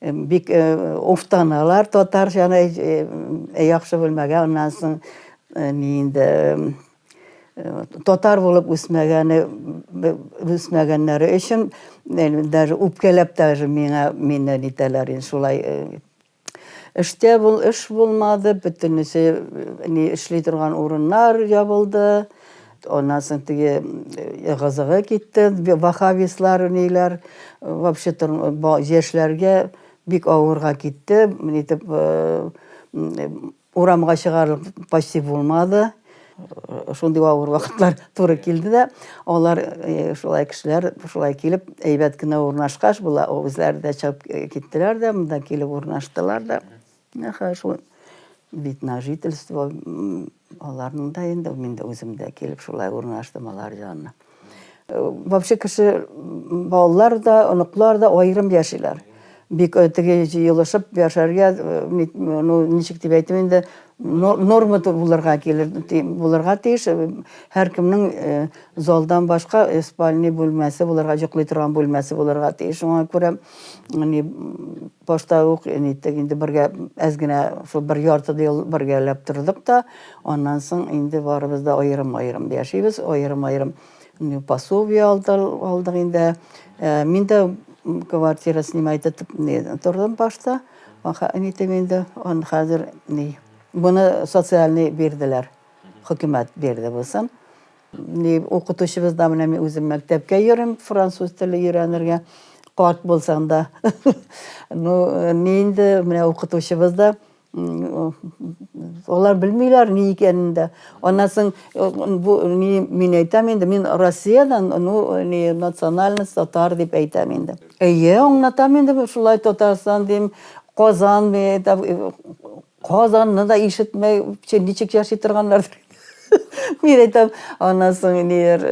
Бик уфтаналар татарчаны яхшы белмәгә, аннан соң ни инде татар булып үсмәгәне үсмәгәннәре өчен даже үпкәләп даже миңа мине нитәләр инде шулай эштә бул эш булмады бөтенесе ни эшли торган урыннар ябылды Аннан соң теге ыгы-зыгы китте, вахавислар, ниләр, вообще яшьләргә бик авырга китте, нитеп урамга чыгарлык почти булмады. Шундый авыр вакытлар туры килде дә, алар шулай кешеләр шулай килеп әйбәт кенә урнашкач, була үзләре дә чыгып киттеләр дә, монда килеп урнаштылар да. Менә хәзер шул бит на жительство, аларның да инде, мин дә үзем дә килеп шулай урнаштым алар янына. Э, вообще кеше, балалар да, оныклар да аерым яшиләр. Бик э, теге җыелышып яшәргә, э, ну, ничек дип әйтим инде, норма булырга килер, булырга тиеш. Һәркемнең залдан башка спальный бүлмәсе булырга, йоклый торган бүлмәсе булырга тиеш. Шуңа күрә Әни башта ук әниттек инде бергә әз генә шул бер ярты ел бергәләп тордык та, аннан соң инде барыбыз да аерым-аерым яшибез, аерым-аерым пособие алдык инде. Э, мин дә квартира снимать итеп тордым башта. Әнитем инде аны хәзер ни буны социальный бирделәр. Хөкүмәт бирде булсын. Ни укытучыбыз да менә мин үзем мәктәпкә йөрим, француз теле өйрәнергә. Карт булсаң да. Ну, ни инде менә укытучыбыз да алар белмиләр ни икәнен дә. Аннан соң бу ни мин әйтәм инде, мин Россиядән, ну, ни национальность татар дип әйтәм инде. Әйе, аңлатам инде, шулай Татарстан дим, Казан, Казанны да ишетмәй, ничек яши торганнардыр. Мин әйтәм, аннан соң ниләр,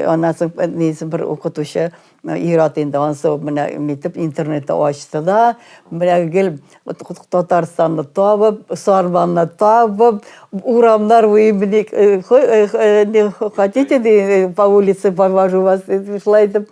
аннан соң низы бер укытучы ират инде, аннан соң менә нитеп интернетта ачты да, менә гел Татарстанны табып, Сарманны табып, урамнар буе били, хотите по улице повожу вас, шулай итеп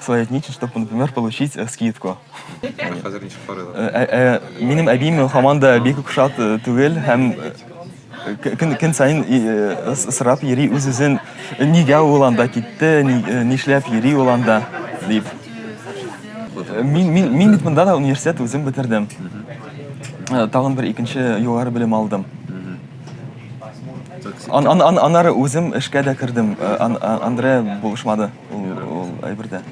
Соедините, чтобы, например, получить э, скидку. Хәзер ничек карыйлар? Э, э, э, Минем әбием һаман да бик кушат э, түгел һәм э, к- көн, көн сайын и, э, с- сорап йөри үз-үзен, нигә ул анда китте, ни- э, нишләп йөри ул анда, дип. Э, Мин, мин, мин бит монда да университет үзем бетердем. Э, Тагын бер икенче югары белем алдым. Ан, ан, ан, аннары үзем эшкә дә кердем. Э, Ан, ан, Андре булышмады. Ул әйбердә.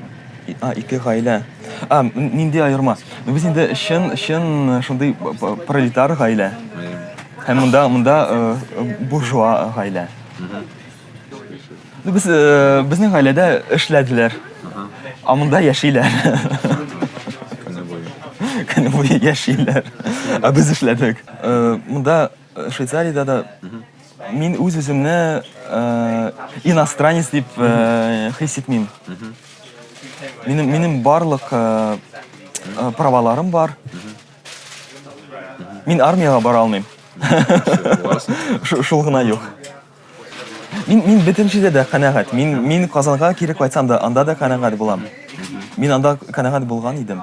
А, ике гаилә. А, нинди аерма? Ну, без инде чын, чын шундый пролетар гаилә. Һәм монда, монда буржуа гаилә. Ну, без, безнең гаиләдә эшләделәр. А монда яшиләр. Көне буе яшиләр. А без эшләдек. Монда Э, Швейцариядә дә мин үз үземне э, иностранец дип э, хис итмим. Минем минем барлык э, э, праваларым бар. Мин армиягә бара алмыйм. Шу- Шул гына юк. Мин мин бөтен җирдә дә канәгать. Мин мин Казанга кире кайтсам да, анда да канәгать булам. Мин анда канәгать булган идем.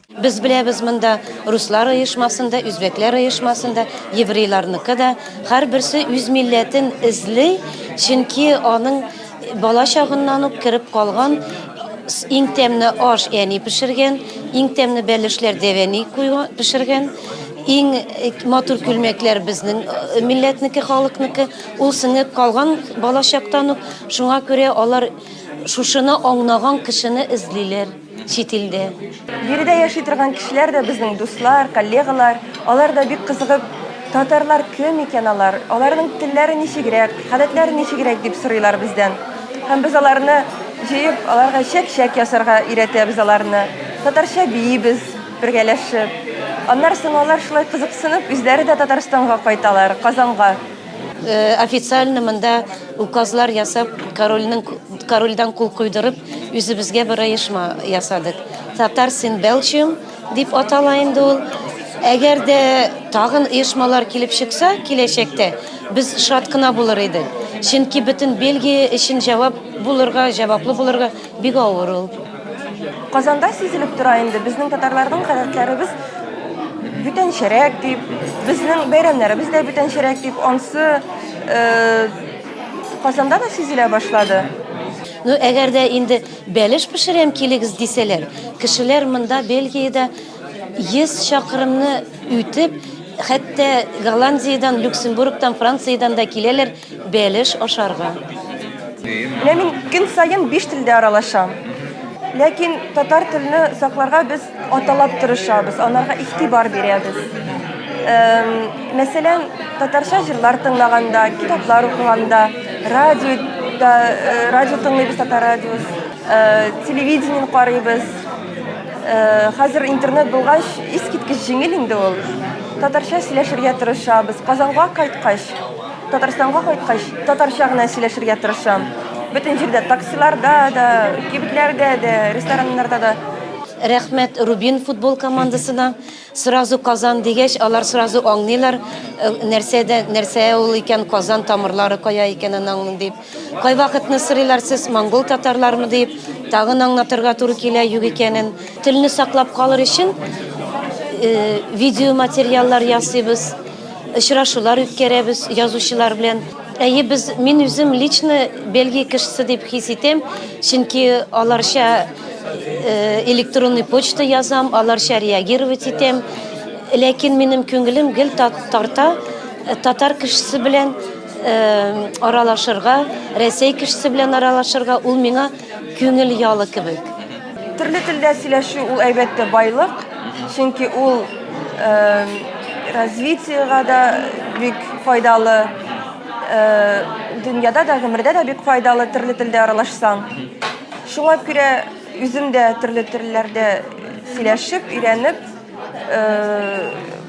Без беләбез монда руслар оешмасын да, үзбәкләр оешмасын да, еврейларныкы да. Һәрберсе үз милләтен эзли, чөнки аның бала чагыннан ук кереп калган иң тәмле аш әни пешергән, иң тәмле бәлешләр дәвәни куйган пешергән. Иң э, матур күлмәкләр безнең э, милләтнеке, халыкныкы. Ул сеңеп калган балачактан ук. Шуңа күрә алар шушыны аңнаган кешене эзлиләр. чит илдә. Биредә яши торган кешеләр дә безнең дуслар, коллегалар. Алар да бик кызыгып, татарлар кем икән алар, аларның телләре ничегрәк, гадәтләре ничегрәк дип сорыйлар бездән. Һәм без аларны җыеп, аларга чәк-чәк ясарга өйрәтәбез аларны. Татарча биибез бергәләшеп. Аннары соң алар шулай кызыксынып, үзләре дә Татарстанга кайталар, Казанга. Э, официально мында указлар ясап корольнең корольдан кул куйдырып үзебезгә бер оешма ясадык татар син белчим дип атала инде ул әгәр дә тагын оешмалар килеп чыкса киләчәктә без шат кына булыр идек чөнки бөтен бельгия өчен җавап булырга җаваплы булырга Бик авыр ул. Казанда сизелеп тора инде, безнең татарларның гадәтләребез бүтәнчәрәк дип, безнең бәйрәмнәребез дә бүтәнчәрәк дип, ансы э, Казанда да сизелә башлады. Ну, әгәр дә инде бәлеш пешерәм килегез дисәләр, кешеләр монда Бельгиядә 100 чакрымны үтеп, хәтта Голландиядән, Люксембургтан, Франциядән дә киләләр. Бәлеш ашарга. Менә мин көн саен биш телдә аралашам. Ләкин татар телне сакларга без аталап тырышабыз, анарга игътибар бирәбез. Мәсәлән, татарча җырлар тыңлаганда, китаплар укыганда, радио да, радио тыңлыйбыз, татар радиос, телевидение карыйбыз. Хәзер интернет булгач, искиткеч җиңел инде ул. Татарча сөйләшергә тырышабыз. Казанга кайткач, Татарстанга кайткач, татарча гына сөйләшергә тырышам. Бөтен җирдә таксиларда да, кибетләрдә дә, рестораннарда да. Рәхмәт Рубин футбол командасына. Сразу Казан дигәч, алар сразу аңлыйлар, нәрсәдә нәрсә ул икән Казан тамырлары кая икәнен аңлыйм дип. Кайвакытны сорыйлар сез монгол татарлармы дип, тагын аңлатырга туры килә юк икәнен. Телне саклап калыр өчен э, видеоматериаллар ясыйбыз, очрашулар үткәрәбез язучылар белән. Әйе, без мин үзем лично Бельгия кешесе дип хис итәм, чөнки аларча э, электронный почта язам, аларча реагировать итәм. Ләкин минем күңелем гел тарта э, татар кешесе белән Аралашырга, Рәсәй кешесе белән аралашырга, ул миңа күңел ялы кебек. Төрле телдә сөйләшү ул әлбәттә байлык, чөнки ул развитиега да бик файдалы, дөньяда да, гомердә дә бик файдалы төрле телдә аралашсаң. Шуңа күрә үзем дә төрле телләрдә сөйләшеп, өйрәнеп,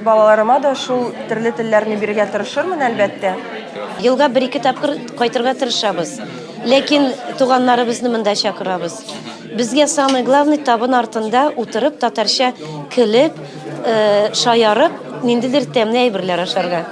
Балаларыма да шул төрле телләрне бирергә тырышырмын, әлбәттә. Елга бер-ике тапкыр кайтырга тырышабыз. Ләкин туганнарыбызны монда чакырабыз. Безгә самый главный табын артында утырып, татарча көлеп, шаярып, ниндидер тәмле әйберләр ашарга.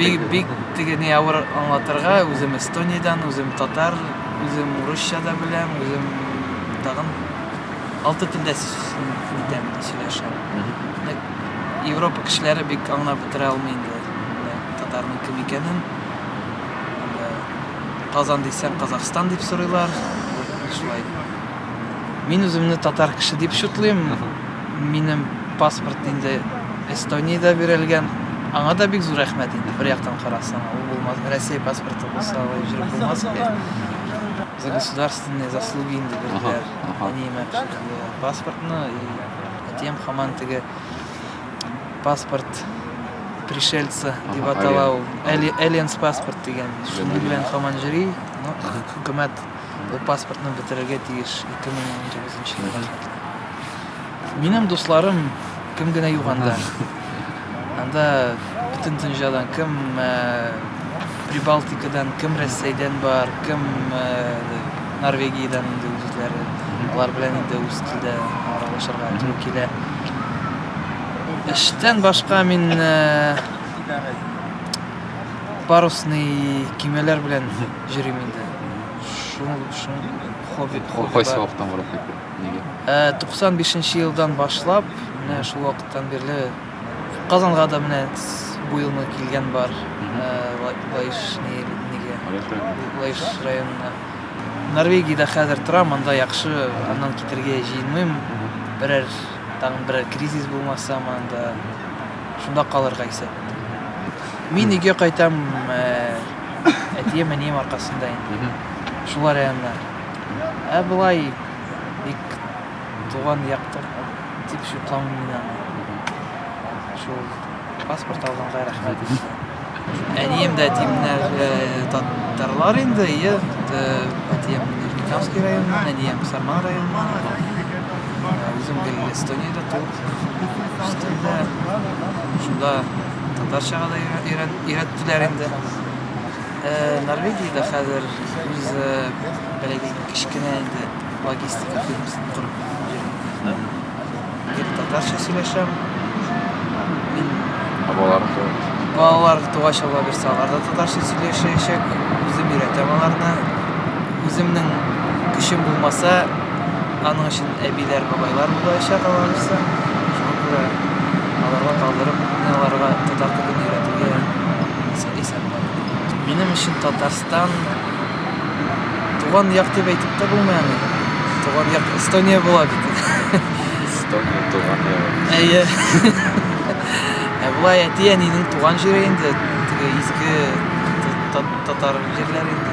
бик бик теге не авыр аңлатырга үзем эстониядән үзем татар үзем урысча да беләм үзем тагын алты телдә итәм сөйләшәм европа кешеләре бик аңлап бетерә алмый инде татарның кем икәнен казан дисәң казахстан дип сорыйлар шулай Мин үземне татар кеше дип чутлыйм. Минем паспорт инде Эстониядә бирелгән. Аңа да бик зур рәхмәт инде. Бер яктан карасаң, ул булмас, Россия паспорты булса, алай җөреп булмас иде. За государственные заслуги инде бирделәр. Әниемә паспортны и әтием хаман теге паспорт пришельца дип атала ул. Aliens паспорт дигән. Шуның белән хаман җөри. Ну, хөкүмәт Бу паспортны бетерергә тиеш 2019 елга кадәр. Минем дусларым кем генә юк анда. Анда бөтен дөньядан кем э, Прибалтикадан, кем Рәсәйдән бар, кем э, Норвегиядән инде үзләре. Алар белән инде үз телдә аралашырга туры килә. Эштән башка мин э, парусный кимәләр белән Җөрим инде. Шуның өчен хобби хобби. Кайсы вакыттан барып кайтты? Нигә? Ә 95 елдан башлап, менә шул вакыттан бирле Казанга да менә бу елны килгән бар. Лаеш нигә? Лаеш районына. Норвегиядә хәзер торам, анда яхшы, аннан китергә җыенмыйм. Берәр тагын берәр кризис булмаса, анда шунда калырга исәп. Мин өйгә кайтам, әтием әнием аркасында инде шул районнар ә болай бик туган якты дип шутламыйм мин аны шул паспорт алганга рәхмәт әнием дә әтием дә татарлар инде әйе әтием нижнекамский районнан әнием сарман районыннан үзем эстониядә туып үстем дә шунда Татарчага да өйрәттеләр инде. Норвегиядә хәзер үз бәләге кечкенә инде логистика фирмасын корып йөрдем. Гел татарча сөйләшәм. Мин балаларым тугач. Балалар тугач алла бирсә, алар да татарча сөйләшәчәк. Үзем өйрәтәм аларны. Үземнең көчем булмаса, аның өчен Әбиләр, бабайлар булаячак аларысы. Шуңа күрә аларга калдырып, мин аларга татар телен өйрәтергә исәп куйдым. Минем өчен Татарстан туган як дип әйтеп тә булмый аны. Туган як Эстония була бит. Эстония туган ягыбыз. Әйе. Ә болай әти-әнинең туган җире инде, теге изге татар җирләре инде.